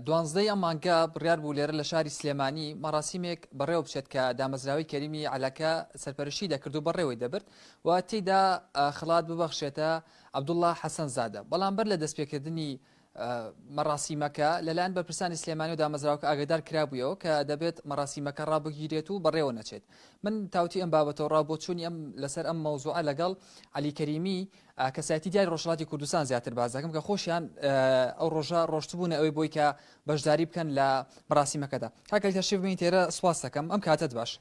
دوانزدە ی ئەم مانگە بڕیار بوو لێرە لە شاری سلێمانی مەڕاسیمێک بەڕێوە بچێت کە دامەزراوەی کەریمی عەلاکە سەرپەرشتی دەکرد و بەڕێوەی دەبرد و تێیدا خەڵات ببەخشێتە عەبدوڵڵا حەسەن زادە بەڵام بەر لە دەستپێکردنی مەڕاسیمەکە لەلایەن بەرپرسانی سلێمانی و دامەزراوکە ئاگدار کرابوویەوە کە دەبێت مەڕاسیمەکە ڕابگیرێت و بەڕێوە نەچێت من تاوتی ئەم بابەتەوە ڕا بۆ چوونی ئەم لەسەر ئەم مەوزوعە لەگەڵ علی کەریمی ئا کەسایتی دیاری ڕۆژهەڵاتی کوردستان زیاتر باس دەکەم کە خۆشیان ئەو ڕۆژە ڕۆشتبوونە ئەوەی بۆی کە بەشداری بکەن لە بەڕاستیمەکەدا کاکەل تەشریف بین تێرە سواس دەکەم ئەم کاتت باش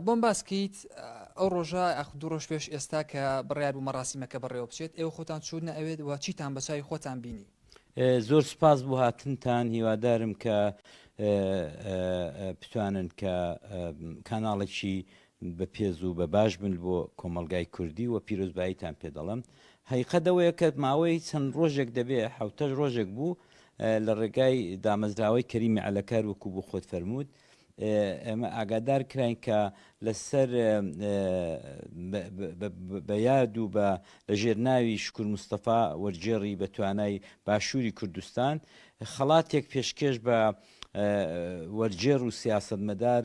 بۆم باسکەیت ئەو ڕۆژە ئەخ دوو ڕۆژ پێش ئێستا کە بڕیار بوو مەڕاستیمەکە بەڕێوە بچێت ئێوە خۆتان چوونە ئەوێت و چیتان بەچوی خۆتان بینی زۆر سپاس بۆ هاتنتان هیوادارم کە بتوانن کە کاناڵێکی بە پێز و بە باش بن بۆ کۆمەڵگای کوردی و پیرۆزباییتان پێ دەڵێم. هەیقە دەوەیە کە ماوەی چەند ڕۆژێک دەبێ حەوتەش ڕۆژێک بوو لە ڕێگای دامەزراوەی کەریمی عەلەکار وەکوو بۆ خۆت فەرمووت ئێمە ئاگادار کراین کە لە سەر بە یاد و بە لە ژێر ناوی شکور مستەفا وەرگێڕی بە توانای باشووری کوردستان خەڵاتێک پێشکێش بە وەرگێڕ و سیاسەتمەدار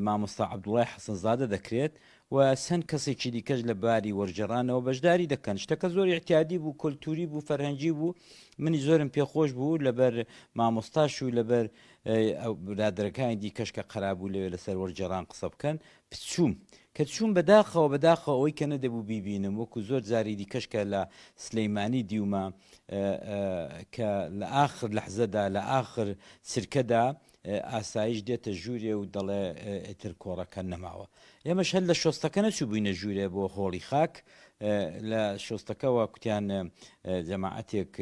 مامۆستا عەبدوڵای حەسەنزادە دەکرێت و چەند کەسێکی دیکەش لە باری وەرگێڕانەوە بەشداری دەکەن شتەکە زۆر ئیعتیادی بوو کولتوری بوو فەرهەنگی بوو منی زۆرم پێخۆش بوو لەبەر مامۆستاش و لەبەر برادەرەکانی دیکەش کە قەرابوو لەوێ لەسەر وەرگێڕان قسە بکەن پچووم کە چوون بەداخەوە بەداخە ئەوەی کە نەدەبوو بیبینم وەکو زۆر جاری دیکەش کە لە سلەیمانی دیومە کە لە ئاخر لەحزەدا لە ئاخر سرکەدا ئاسایش دێتە ژوورێ و دەڵێ ئیتر کۆڕەکە نەماوە. ئێمەش هەر لە شۆستەکە نەچووبووینە ژوورێ بۆ هۆڵی خاک، لە شۆستەکەوە کوتیان جەماعەتێک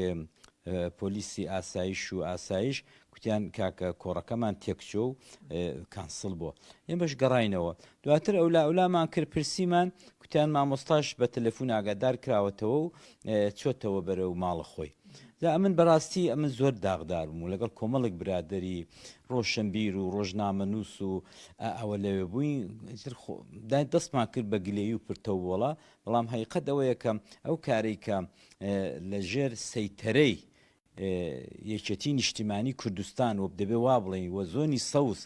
پۆلیسی ئاسایش و ئاسایش کوتیان کاکە کۆڕەکەمان تێکچووە و کانسڵ بووە. ئێمەش گەڕاینەوە. دواتر ئەولائەولامان کرد پرسیمان، کوتیان مامۆستاش بە تەلەفوون ئاگادار کراوەتەوە و چۆتەوە بەرەو ماڵە خۆی جا ئەمن بەراستی ئەمن زۆر داغدار بووم لەگەڵ کۆمەڵێک برادەری ڕۆشنبیر و ڕۆژنامەنووس و ئەوە لەوێ بووین ئیتر خۆ دای دەستمان کرد بە گلەیی و پرتەووەڵە بەڵام هەقیقەت ئەوەیە کە ئەو کارەی کە لە ژێر سەیتەرەی یەکێتی نیشتیمانی کوردستان و دەبێ وا بڵێین و زۆنی سەوز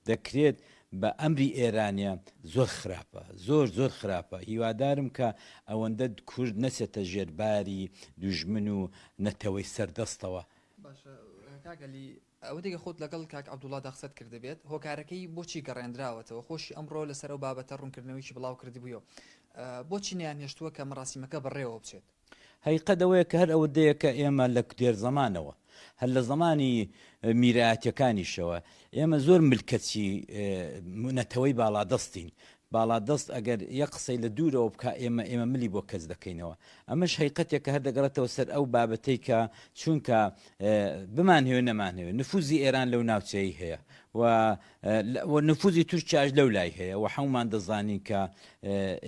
دەکرێت بە ئەمری ئێرانە زۆر خراپە زۆر زۆر خراپە هیوادارم کە ئەوەندە کورد نەچێتە ژێر باری دوژمن و نەتەوەی سەر دەستەوە. باشە کاک علی ئەوەتی کە خۆت لەگەڵ کاک عبدوڵادا قسەت کردبێت هۆکارەکەی بۆچی گەڕێندراوەتەوە خۆشی ئەمڕۆ لەسەر ئەو بابەتە ڕونکردنەوەیەکی بڵاوکردبویەوە بۆچی نەیانهێشتووە کە مەڕاسیمەکە بەڕێوەبچێت؟ هەقیقەت ئەوەیە کە هەر ئەوە دەیە کە ئێمە لە دێر زەمانەوە، هەر لە زەمانی میرایەتیەکانیشەوە، ئێمە زۆر ملکەچی نەتەوەی باڵادەستین، باڵادەست ئەگەر یەک قسەی لە دوورەوە بکا ئێمە ئێمە ملی بۆ کەچ دەکەینەوە. ئەمەش هەقیقەتێک کە هەر دەگەڕێتەوە سەر ئەو بابەتەی کە چوونکە بمانهەوێ نەمانهەوێ نفوزی ئێران لەو ناوچەیەی هەیە و و نفوزی تورکیاش لەو لای هەیە و حەمومان دەزانین کە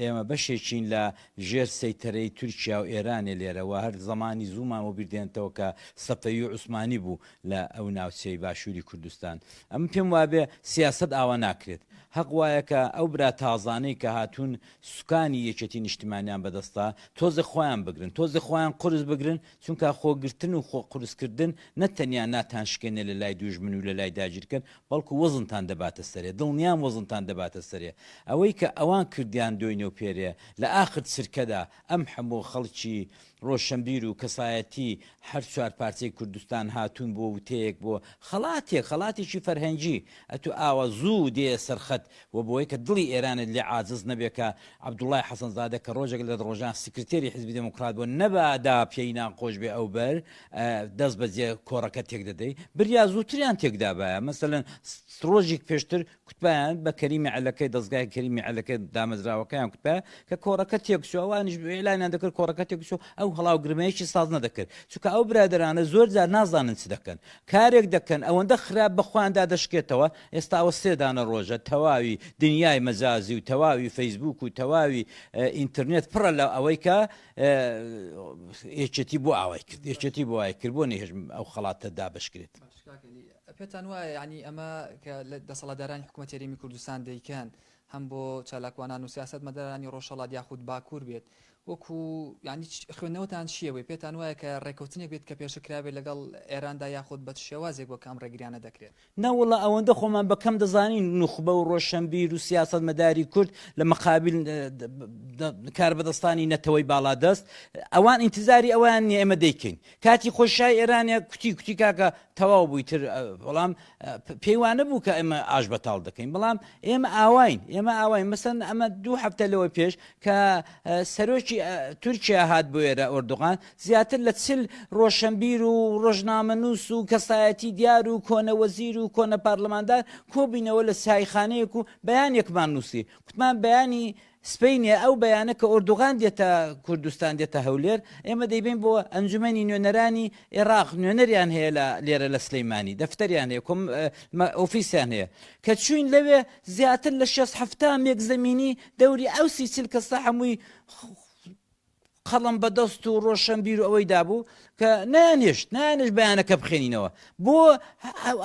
ئێمە بەشێکین لە ژێر سەیتەرەی تورکیا و ئێرانێ لێرە و هەر زەمانی زوومان بۆ بیردێنێتەوە کە سەفەوی و عوسمانی بوو لە ئەو ناوچەی باشووری کوردستان ئەمن پێم وابێ سیاسەت ئاوا ناکرێت هەق وایە کە ئەو برا تازانەی کە هاتوون سوکانی یەکێتی نیشتمانیان بەدەستە تۆزێ خۆیان بگرن تۆزێ خۆیان قورس بگرن چونکا خۆ گرتن و خۆ قورس کردن نە تەنیا ناتان شکێنێ لە لای دووژمن و لە لای داگیرکەر بەڵکو وەزنتان دەباتە سەرێ دڵنیام وەزنتان دەباتە سەرێ ئەوەی کە ئەوان کردیان دۆینە و پێرێ لە ئاخر چرکەدا ئەم حەموو خەڵکی ڕۆشەنبیر و کەسایەتی هەر چوار پارچەی کوردستان هاتوون بۆ وتەیەک بۆ خەڵاتێک خەڵاتێکی فەرهەنگی ئەتو ئاوا زوو دێیە سەر خەت وە بۆیکە دڵی ئێرانت لێ عاجز نەبێ کە عەبدوڵای حەسەنزادە کە ڕۆژێک لە ڕۆژان سکرتێری حیزبی دێموکڕات بووە، نەبادا پێی ناخۆش بێ ئەو بەر دەست بەجێ کۆڕەکە تێک دەدەی، بریا زووتریان تێک دابایە، مەسەلەن ڕۆژیک پێشتر کوتبایان بە کەریمی عەلەکەی دەزگای کەریمی عەلەکە دامەزراوەکەیان کوتبایە کە کۆڕەکە تێک چووە، ئەوانیش ئیعلانیان دەکرد کۆڕەکە تێک چووە، ئەو هەڵاوگرمەیەکی ساز نەدەکرد، چونکە ئەو برادەرانە زۆر جار نازانن چ دەکەن، کارێک دەکەن ئەوەندە خراپ بە خۆیان دادەشکێتەوە ئێستا ئەوە سێ دانە ڕۆژە تەواوی دنیای مەجازی و تەواوی فەیسبووک و تەواوی ئینترنێت پڕە لە ئەوەی کە یەکێتی بۆ ئاوای کرد یەکێتی بۆ وای کرد بۆ نەهێش ئەو خەڵاتە دابشکرێت پێتان وایە ینی ئەمە کە لە دەسەڵاتدارانی حکوومەت یاریمی کوردستان دەیکەن هەم بۆ چالاکوانان و سیاست مەدەرانی ڕۆژەڵات یاخود باکوور بێت وەکو یانی خوێندنەوەتان چییە بۆی؟ پێتان وایە کە ڕێکەوتنێک بێت کە پێشە کرابێت لەگەڵ ئێراندا یاخود بە چ شێوازێک بۆ کە ئەم ڕێگریانە دەکرێت؟ نەوەڵا ئەوەندە خۆمان بە کەم دەزانین نوخبە و ڕۆشەنبیر و سیاسەتمەداری کورد لە مقابل کاربەدەستانی نەتەوەی باڵادەست ئەوان ئینتزاری ئەوەیان نیە ئێمە دەیکەین کاتی خۆی شای ئێرانە کوتی کوتی کاکە تەواو بووی تر بەڵام پێیوانە بوو کە ئێمە ئاش بەتاڵ دەکەین بەڵام ئێمە ئاواین ئێمە ئاواین مەسەن ئەمە دوو هەفتە لەوە پێش کە سەرۆکی تورکیا هات بۆ ئێرە ئۆردوغان زیاتر لە چل ڕۆشنبیر و ڕۆژنامەنووس و کەسایەتی دیار و کۆنە وەزیر و کۆنە پارلماندار کۆبینەوە لە سایخانەیەک و بەیانێکمان نووسی کوتمان بەیانی سپینێ ئەو بەیانە کە ئۆردوغان دێتە کوردستان دێتە هەولێر ئێمە دەیبین بۆ ئەنجومەنی نوێنەرانی عێراق نوێنەریان هەیە لە لێرە لە سلەیمانی دەفتەریان هەیە کۆم ئۆفیسیان هەیە کە چوین لەوێ زیاتر لە شێست حەفتا مێک زەمینی دەوری ئەو سی چل کەسە هەمووی قەڵەم بە دەست و ڕۆشەنبیر و ئەوەی دابوو کە نانێشت نانش بەیانەکە بخێنینەوە بۆ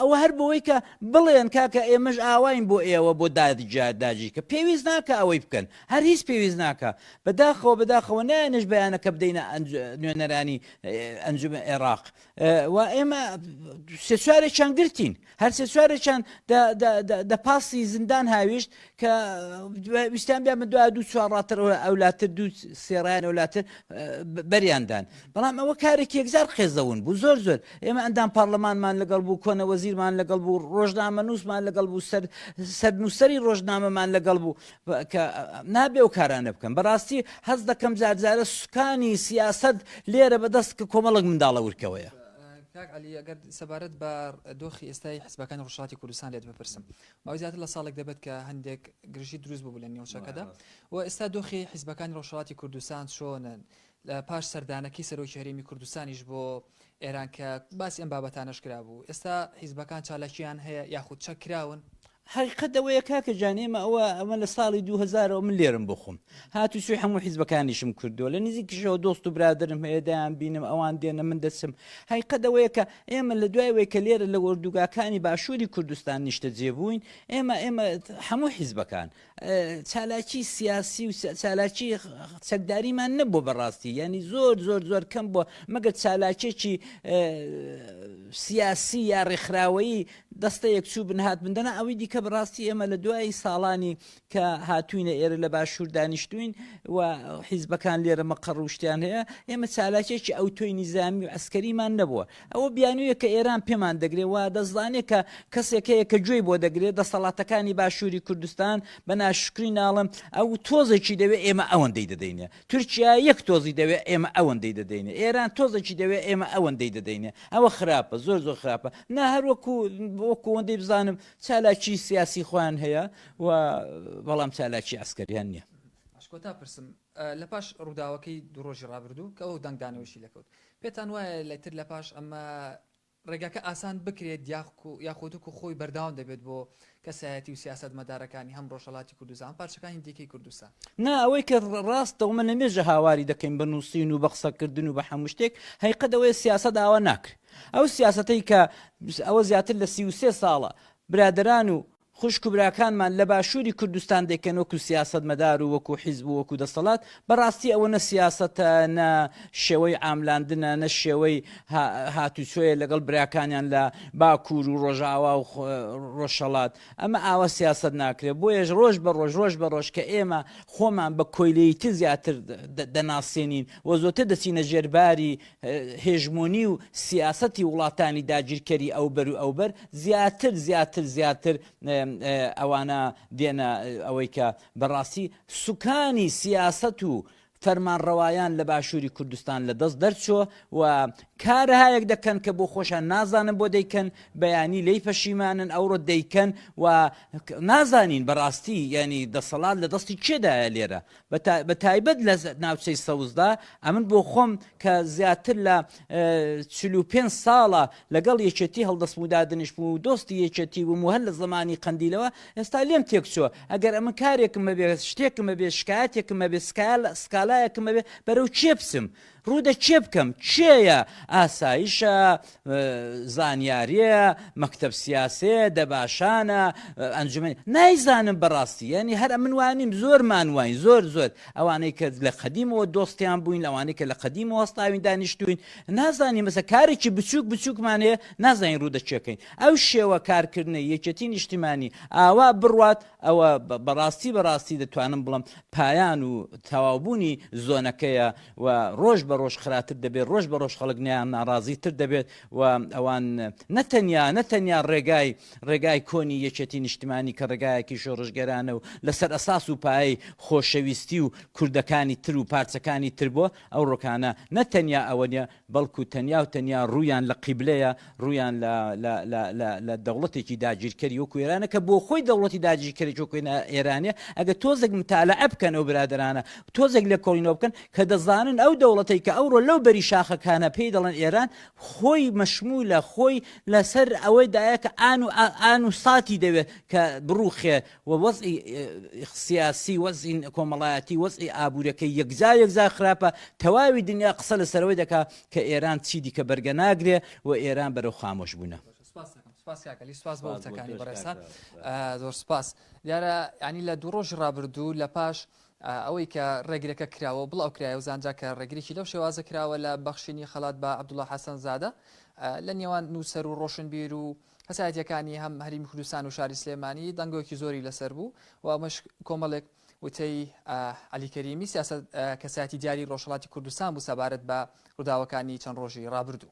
ئەوە هەر بۆەوەی کە بڵێن کاکە ئێمەش ئاواین بۆ ئێوە بۆ دادجار داجی کە پێویست ناکە ئەوەی بکەن هەر هیچ پێویست ناکە بەداخەوە بەداخەوە نانش بەیانەکە بدەینە نوێنەرانی ئەنجومە عێراق و ئێمە سێچارێکیان گرتین هەر سێچارێکیان دە پاسی زیندان هاویشت کە ویستان بیا من دو دوو چوارڕاتر ئەولاتر دوو سێڕیان ئەولاتر بەریاندان بەڵام ئەوە کارێک یەکزار قێزەون بوو زۆر زۆر ئێمە ئەندام پارلەمانمان لەگەڵ بوو کۆنە وەزیرمان لەگەڵ بوو ڕۆژنامە نووسمان لەگەڵ بوو سەر سەرنووسری ڕۆژنامەمان لەگەڵ بوو کە نابێ و کارانە بکەم بەڕاستی هەز دەکەم جارجارە سوکانی سیاست لێرە بەدەست کە کۆمەڵک منداڵە ورکەوەیە. ئەگەر سەبارەت بە دۆخی ئێستای حزبەکانی ڕوشاتی کوردستان لێت بپرسم ئەو زیاتر لە ساڵێک دەبێت کە هەندێک گرژی دروست بوو لە نێوچەکەدا و ئێستا دۆخی حزبەکانی ڕۆژهڵاتی کوردستان چۆنن لە پاش سەردانەکەی سەرۆکی هەرێمی کوردستانیش بۆ ئێران کە باسی ئەم بابەتانەش کرابوو، ئێستا حیزبەکان چالاکییان هەیە یاخود چەک کراون؟ حەقیقەت ئەوەیە کاکە جان ئێمە ئەوە ئەمە لە ساڵی دوو هەزار ەوە من لێرەم بۆ خۆم هاتوچۆی هەموو حیزبەکانیشم کردووە لە نزیکیشەوە دۆست و برادەرم هەیە دەیانبینم ئەوان دێنە من دەچم حەقیقەت ئەوەیە کە ئێمە لە دوای وەی کە لێرە لە ئۆردوگاکانی باشووری کوردستان نیشتەجێ بووین ئێمە ئێمە هەموو حیزبەکان چالاکی سیاسی و چالاکی چەکداریمان نەبوو بەڕاستی یعنی زۆر زۆر زۆر کەم بووە مەگەر چالاکێکی سیاسی یا ڕێکخراوەیی دەستە یەکچوو بن هات بندەنا ئەوەی دیکە بەڕاستی ئێمە لە دوای ساڵانی کە هاتوینە ئێرە لە باشوور دانیشتوین و حیزبەکان لێرە مەقە ڕوشتیان هەیە ئێمە چالاکێکی ئەو تۆی نیزامی و ئەسکەریمان نەبووە ئەوە بیانوویە کە ئێران پێمان دەگرێ و دەزانێ کە کەسێک هەیە کە گوێی بۆ دەگرێ، دەسەڵاتەکانی باشووری کوردستان بە ناشکری ناڵێم ئەو تۆزێکی دەوێ ئێمە ئەوەندەی دەدەینێ. تورکیا یەک تۆزی دەوێ ئێمە ئەوەندەی دەدەینێ. ئێران تۆزێکی دەوێ ئێمە ئەوەندەی دەدەینێ. ئەوە خراپە، زۆر زۆر خراپە. نا هەر وەکوو وەکوو ئەوەندەی بزانم چالاکیی سیاسیی خۆیان هەیە و بەڵام چالاکیی عەسکەرییان نییە. پاشکۆتا پرسم لە پاش ڕووداوەکەی دوو ڕۆژی ڕابردوو کە ئەو دەنگدانەوەیشی لێ کەوت، پێتان وایە لە تر لە پاش ئەمە ڕێگاکە ئاسان بکرێت یاخودکو خۆی بەردەوام دەبێت بۆ کەسایەتی و سیاسەت مەدارەکانی هەم ڕۆژەڵاتی کوردستان پارچەکانی دیکەی کوردستان؟ نا ئەوەی کە ڕاستە ومە نەمێژە هاواری دەکەین بە نووسین و بە قسەکردن و بە هەموو شتێک هەیقەت ئەوەیە سیاسەت ئاوا ناکرێت ئەو سیاسەتەی کە ئەوە زیاتر لە سی و سێ ساڵە برادەران و خوشک و براکانمان لە باشووری کوردستان دەیکەن وەکو سیاسەتمەدار و وەکو حیزب و وەکو دەستەڵات، بەڕاستی ئەوە نە سیاسەتە، نە شێوەی عاملاندنە، نە شێوەی هاتوچۆیە لەگەڵ براکانیان لە باکوور و ڕۆژاوا و ڕۆژهەڵات، ئەمە ئاوا سیاسەت ناکرێت، بۆیەش ڕۆژ بە ڕۆژ ڕۆژ بە ڕۆژ کە ئێمە خۆمان بە کۆیلەیی تر زیاتر دەناسێنین و زۆرتر دەچینە ژێر باری هێژمۆنی و سیاسەتی وڵاتانی داگیرکەری ئەوبەر و ئەوبەر زیاتر زیاتر زیاتر ئەوانە دێنە ئەوەی کە بەڕاستی سوکانی سیاست و فەرمانڕەوایان لە باشووری کوردستان لە دەست دەرچۆ و کارهایەک دەکەن کە بۆ خۆشان نازانن بۆ دەیکەن بەیانی لی پەشیمانن ئەوڕۆ دەیکەن و نازانین بەڕاستی ینی دەسەڵات لە دەستی کێدایە لێرە بە تایبەت لە ناوچەی سەوزدا، ئەمن بۆ خۆم کە زیاتر لە چل و پێنج ساڵە لەگەڵ یەکێتی هەڵدەست و دادنیش بووم و دۆستی یەکێتی بووم و هەر لە زمانی قەندیلەوە ئێستا لێم تێکچووە ئەگەر ئەمن کارێکم هەبێ شتێکم هەبێ شکایەتێکم هەبێ سکایە سکالایەکم هەبێ بەرەو کێ بچم؟ ڕوو دە کێ بکەم کێیە ئاسایشە زانیاریە مەکتب سیاسێ دەباشانە ئەنجومنی نایزانم بەڕاستی ینی هەر من وانیم زۆر مانواین زۆر زۆر ئەوانەی کە لە قەدیمەوە دۆستیان بووین ئەوانەی کە لە قەدیم وەستاوین دانیشتوین نازانین مەسە کارێکی بچووک بچووکمانێ نازانین ڕوو دەچەکەین ئەو شێوە کارکردنە یەکەتی نیشتیمانی ئاوا بڕوات ئەوە بەڕاستی بەڕاستی دەتوانم بڵم پایان و تەواوبوونی زۆنەکەیە و ڕۆژ بە ڕۆژ خراتر دەبێت ڕۆژ بە ڕۆژ خەڵک نیان ناڕازی تر دەبێت و ئەوان نەتەنیا نەتەنیا ڕێگای ڕێگای کۆنی یەکێتی نیشتمانی کە ڕێگایەکی شۆڕژگەرانە و لەسەر ئەساس و پایی خۆشەویستی و کوردەکانی تر و پارچەکانی تر بووە ئەو ڕۆکانە نەتەنیا ئەوە نیە بەڵکو تەنیا و تەنیا ڕوویان لە قیبلەیە، ڕوویان لە لە لە لە لە دەوڵەتێکی داگیرکەری وەکو ئێرانە کە بۆخۆی دەوڵەتی داگیرکەرێکی وەکو ئێرانە ئەگەر تۆزێک متالەعە بکەن ئەو برادەرانە تۆزێک لێکۆڵینەوە بکەن کە دەزانن ئەو دەوڵەتەی کە ئەوڕۆ لەو بەری شاخەکانە پێی دەڵێن ئێران خۆی مەشمولە خۆی لەسەر ئەوەی دایە کە ئان و ئان و ساتی دەوێت کە بڕوخێ و وەزعی سیاسی وەزعی کۆمەڵایەتی وەزعی ئابوورەکەی یەکجار یەکجار خراپە تەواوی دنیا قسە لەسەرەوەی دەکا کە ئێران چی دیکە بەرگە ناگرێ و ئێران بەرەو خامۆش بوونە. سپاس کاکە علی سپاس بۆ وتەکانی بەڕێزتا زۆر سپاس دیارە ینی لە دوو ڕۆژی ڕابردوو لە پاش ئەوەی کە ڕێگرەکە کراوە بڵاو کرایە و زانرا کە ڕێگرێکی لەو شێوازە کراوە لە بەخشینی خەڵات بە عبدوڵە حەسەن زادە لە نێوان نووسەر و ڕۆشنبیر و کەسایەتییەکانی هەم هەریمی کوردستان و شاری سلێمانی دەنگۆکی زۆری لەسەر بوو و ئەمەش کۆمەڵێک وتەی عەلی کەریمی سیاسەت کەسایەتی دیاری ڕۆژهەڵاتی کوردستان بوو سەبارەت بە ڕووداوەکانی چەند ڕۆژی ڕابردوو.